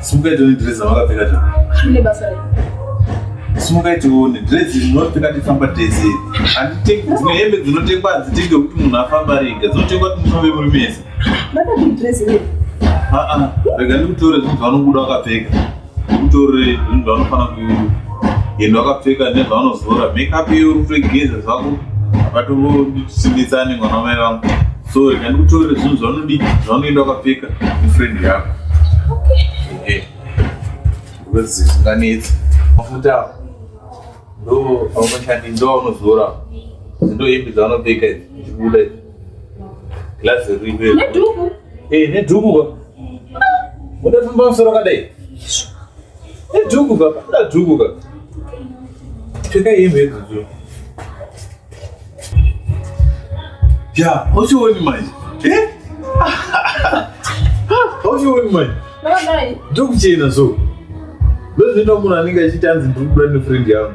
simukaitewo nedress amakapfeka ta ine basa rei simukaitewo nedress dzinopfeka tifamba tese handitenge dzimwe hembe dzinotengwa hadzitenge kuti munhu afamba rega dzinotengwa kuti mufambe muri mese ndakati dress rei aa rega ndikutore zvinhu zvavanobuda wakapfeka ndikutore zvinhu zvavanofanira kuenda wakapfeka nezvavanozora makeup iyo uri kutogeza zvako apato ndisimbitsane mwana wamai vangu so rega ndikutore zvinhu zvaunodii zvaunoenda wakapfeka mufriend yako eh. wezi zvinganetsi mafuta awo ndo aunoshandi ndo aunozora ndo hembe dzaunopfeka idzi ndibuda idzi glazi rive nedhuku eh, nedhuku ka mudafamba musoro kadai Duku baba, da duku baba. Pfeka hembe idzo. Ya, uchioni manje. Eh? Uchioni manje. Ndokuchena so. Ndozvinoita munhu anenge achiti anzi ndiri kubuda nefriend yangu.